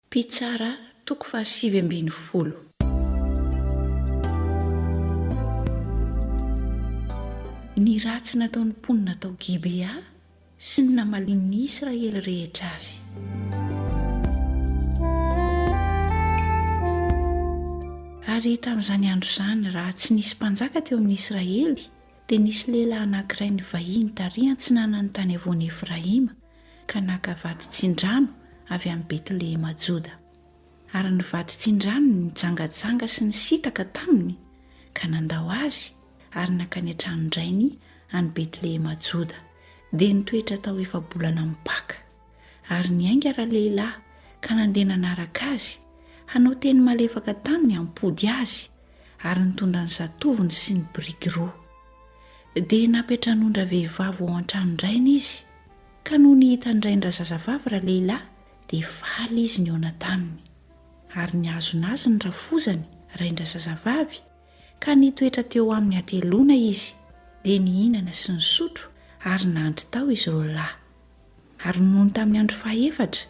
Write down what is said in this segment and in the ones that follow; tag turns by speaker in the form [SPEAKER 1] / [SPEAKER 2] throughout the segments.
[SPEAKER 1] Mpitsara, toko fahasivy ambin'ny folo. Ny ratsy nataon'ny mponina tao Gibea sy ny namalian'ny Israely rehetra azy. Ary tamin'izany andro izany, raha tsy nisy mpanjaka teo amin'ny Israely, dia nisy lehilahy anankiray nivahiny tary an-tsinanan'ny tany havoan'i Efraima, ka naka vato tsindrano avy amin'i Betlehema Joda. Ary ny vato tsindranony nijangajanga sy nisintaka taminy, ka nandao azy ary nankany an-tranon-drainy any Betlehema Joda, dia nitoetra tao efa-bolana mipaka. Ary niainga ralehilahy ka nandeha nanaraka azy, hanao teny malefaka taminy hampody azy, ary nitondra ny zatovony sy ny biriky roa. Dia nampetran'ondra vehivavy ao an-tranon-drainy izy, Ka nony hitany rainy razazavavy ralehilahy dia faly izy nihaona taminy. Ary nihazona azy ny rafozany rain-drazazavavy ka nitoetra teo aminy hateloana izy, dia nihinana sy nisotro ary nandry tao izy roalahy. Ary nony tamin'ny andro fahaefatra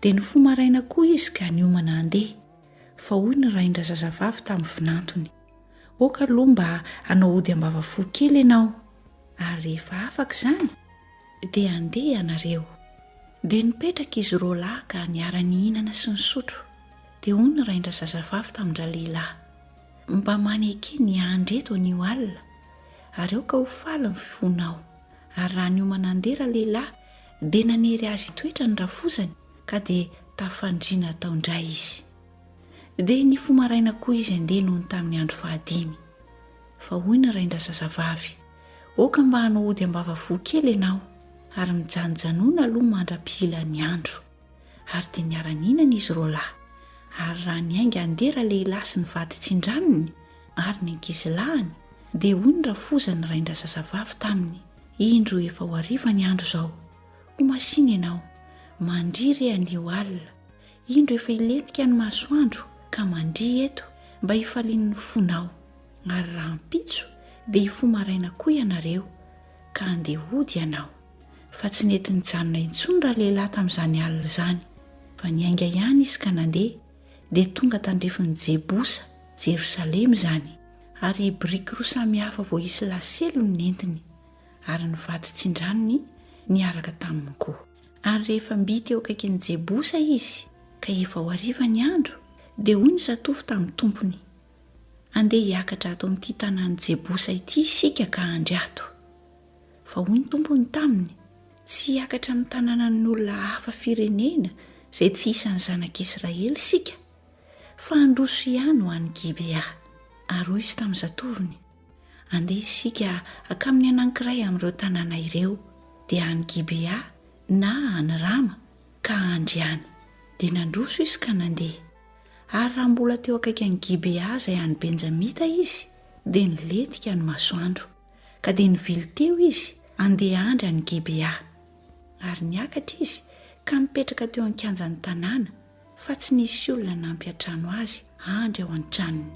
[SPEAKER 1] dia nifoha maraina koa izy ka niomana handeha, fa hoy ny rain-drazazavavy tamin'ny vinantony. Aoka aloha mba hanao ody am-bava fo kely ianao, ary rehefa afaka izany, dia handeha ianareo. Dia nipetraka izy roa lahy ka niara-nihinana sy nisotro. Dia hoy ny rain-drazazavavy tamin-dralehilahy, Mba maneke ny hiandry eto anio alina, ary aoka ho faly ny fonao. Ary raha niomana handeha ralehilahy, dia nanery azy hitoetra ny rafozany, ka dia tafandriana tao indray izy. Dia nifoha maraina koa izy handeha nony tamin'ny andro fahadimy. Fa hoy ny rain-drazazavavy, Aoka mba hanao ody ambavavoa kely ianao, ary mijanojanona aloha mandra-pihila ny andro. Ary dia niara-nihinana izy roalahy. Ary raha niainga handeha ralehilahy sy ny vaditsindranony ary ny ankizilahiny, dia hoy ny rafoza ny rain-drazazavavy taminy, Indro efa ho hariva ny andro izao. Ho masìna ianao. Mandria re anio alina. Indro efa hilentika ny masoandro ka mandria eto mba hifalian'ny fonao, ary rahampitso dia hifoha maraina koa ianareo ka handeha hody ianao. Fa tsy nety nijanona intsony ralehilahy tamin'izany alina izany, fa niainga ihany izy ka nandeha, dia tonga tandrifin'i Jebosa, Jerosalema izany, ary biriky roa samy hafa voaisy lasely no nentiny, ary ny vato tsindranony niaraka taminy koa. Ary rehefa mby teo akaikin'i Jebosa izy ka efa ho hariva ny andro, dia hoy ny zatovo tamin'ny tompony, Andeha hiakatra ato amin'ity tanàn'i Jebosa ity isika ka handry ato. Fa hoy ny tompony taminy, Tsy hiakatra amin'ny tanànan'olona hafa firenena izay tsy isan'ny zanak'Israely isika, fa handroso ihany ho any Gibea. Ary hoy izy tamin'ny zatovony, Andeha isika hankamin'ny anankiray amin'ireo tanàna ireo, dia any Gibea na any Rama, ka handry any. Dia nandroso izy ka nandeha. Ary raha mbola teo akaiky an'i Gibea izay any Benjamita izy, dia nilentika ny masoandro, ka dia nivily teo izy handeha handry any Gibea. Ary niakatra izy ka nipetraka teo an-kianjan'ny tanàna, fa tsy nisy olona hanampy an-trano azy handry ao an-tranony.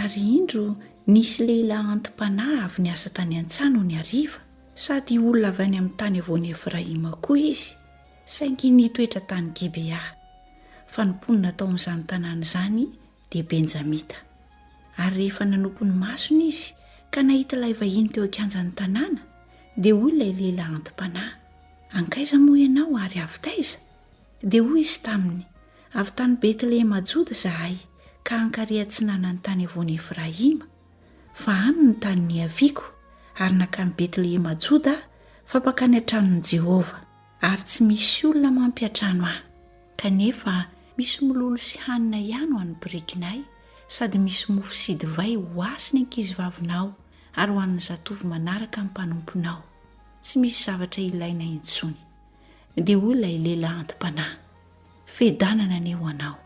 [SPEAKER 1] Ary indro nisy lehilahy anti-panahy avy niasa tany an-tsaha nony hariva, sady olona avy any amin'ny tany havoan'i Efraima koa izy, saingy nitoetra tany Gibea, fa ny mponina tao amin'izany tanàna izany dia Benjamita. Ary rehefa nanopy ny masony izy ka nahita ilay vahiny teo an-kianjan'ny tanàna, dia hoy ilay lehilahy anti-panahy, Ankaiza moa ianao ary avy taiza? Dia hoy izy taminy, Avy tany Betlehema Joda izahay ka hankary atsinanan'ny tany havoan'i Efraima, fa any no tany niaviako, ary nankany Betlehema Joda aho fa mpankany an-tranon'i Jehovah. Ary tsy misy olona mampiadrano ahy, kanefa misy mololo sy hanina ihany ho an'ny birikinay, sady misy mofo sy divay ho azy ny ankizivavinao ary ho an'ny zatovo manaraka ny mpanomponao. Tsy misy zavatra ilaina intsony. Dia hoy ilay lehilahy anti-panahy, Fedanana anie ho anao.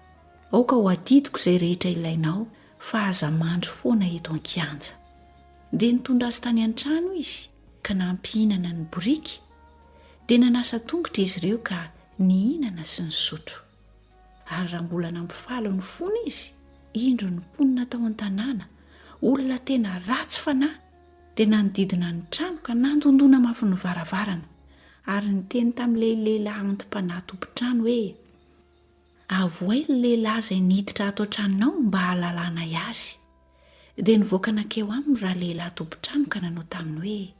[SPEAKER 1] Aoka ho adidiko izay rehetra ilainao, fa aza mandry foana eto an-kianja. Dia nitondra azy tany an-trano izy. ka nampihinana ny boriky, dia nanasa tongotra izy ireo ka nihinana sy nisotro. Ary raha mbola nampifaly ny fony izy, indro ny mponina tao an-tanàna, olona tena ratsy fanahy, dia nanodidina ny trano ka nandondona mafy ny varavarana, ary niteny tamin'ilay lehilahy anti-panahy tompon-trano hoe, Avohay ilay lehilahy izay niditra ato an-tranonao mba hahalalanay azy. Dia nivoaka nankeo aminy ralehilahy tompon-trano ka nanao taminy hoe,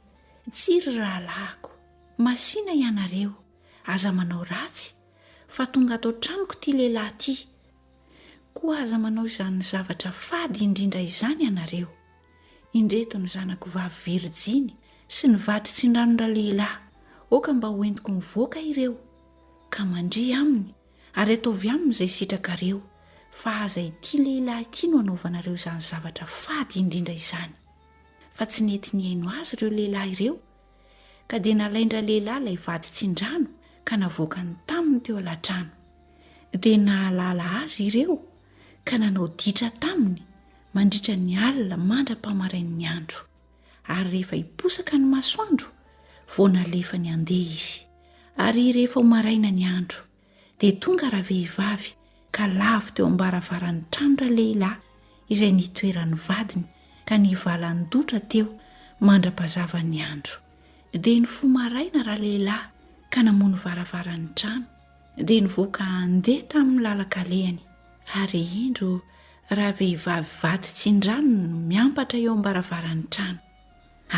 [SPEAKER 1] Tsia ry rahalahiko, masìna ianareo, aza manao ratsy, fa tonga ato an-tranoko ity lehilahy ity. Koa aza manao izany zavatra fady indrindra izany ianareo. Indreto ny zanako vavy virijiny sy ny vady tsindranondralehilahy, aoka mba hoentiko mivoaka ireo, ka mandria aminy Ary ataovy aminy izay sitrakareo, fa aza ity lehilahy ity no anaovanareo izany zavatra fady indrindra izany. Fa tsy nety nihaino azy ireo lehilahy ireo, ka dia nalain-dralehilahy ilay vady tsindrano ka navoakany taminy teo alatrano. Dia nahalala azy ireo ka nanao ditra taminy mandritra ny alina mandra-pamarain'ny andro. ary rehefa hiposaka ny masoandro vao nalefany handeha izy ary rehefa ho maraina ny andro dia tonga ravehivavy ka lavo teo ambaravaran'ny tranora lehilahy izay nitoeran'ny vadiny ka nivalan-dotra teo mandra-pazavan'ny andro dia ny fo maraina raha lehilahy ka namono varavaran'ny trano dia nivoaka handeha tamin'ny lalankalehany Ary indro ravehivavy vady tsindrano no miampatra eo am-baravaran'ny trano,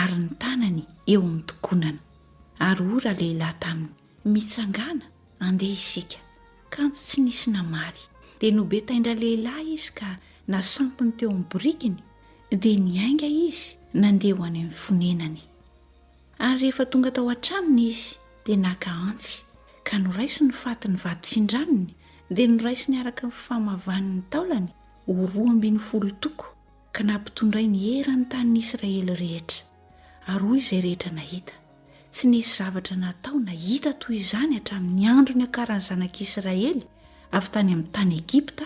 [SPEAKER 1] ary ny tanany eo amin'ny tokonana. Ary hoy ralehilahy taminy, Mitsangàna, andeha isika. Kanjo tsy nisy namaly. Dia nobetain-dralehilahy izy ka nasampiny teo amin'ny borikiny, dia niainga izy nandeha ho any amin'ny fonenany. Ary rehefa tonga tao an-tranony izy, dia naka antsy, ka noraisiny ny fatin'ny vato tsindranony, dia noraisiny araka ny fifamavany ny taolany ho roa ambin'ny folo toko, ka nampitondrainy eran'ny tanin'ny Israely rehetra. Ary hoy izay rehetra nahita, Tsy nisy zavatra natao na hita toy izany hatramin'ny andro niakaran'ny zanak'Israely avy tany amin'ny tany Egypta,